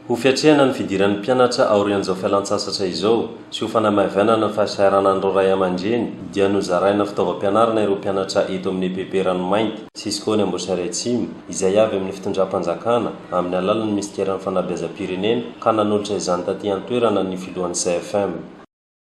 Ho fiatrehana ny fidiran'ny mpianatra aorian'izao fialantsasatra izao sy ho fanamaivanana ny fahasahiranan'ireo ray aman-dreny dia nozaraina fitaovam-pianarana ireo mpianatra eto amin'ny EPP Ranomainty, Cisco ny Amboasary Atsimo, izay avy amin'ny fitondram-panjakana amin'ny alalan'ny minisiteran'ny fanabeazam-pirenena ka nanolotra izany taty an-toerana ny filohan'ny CFM.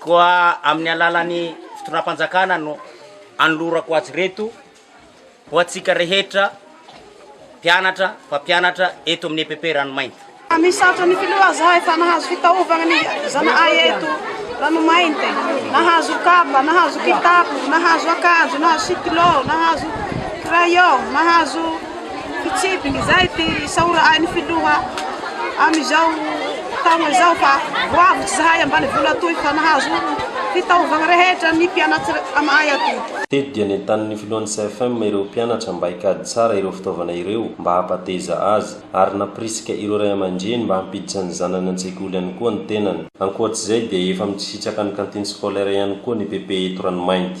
Koa amin'ny alalan'ny fitondram-panjakana no anolorako azy ireto ho antsika rehetra mpianatra, mpampianatra eto amin'ny EPP Ranomainty. Misaotra ny Filoha zahay fa nahazo fitaovana ny zana'ay eto Ranomainty, nahazo kapa, nahazo kitapo, nahazo akanjo, nahazo sitilô, nahazo crayon, nahazo. Fitsipika izay ity saoran'ny filoha amin'izao taona izao fa ho avy tsy sahay ambanivolo atoy fa nahazo fitaovagna rehetra ny mpianatry amaay atoy. Teto dia nentanin'ny filohan'ny CFM ireo mpianatra mba hikady tsara ireo fitaovana ireo mba hampateza azy ary nampirisika ireo ray aman-dreny mba hampiditra ny zanany an-tsekoly ihany koa ny tenany. Ankoatr'izay dia efa mitsisitraka ny cantine scolaire ihany koa ny PP eto Ranomainty.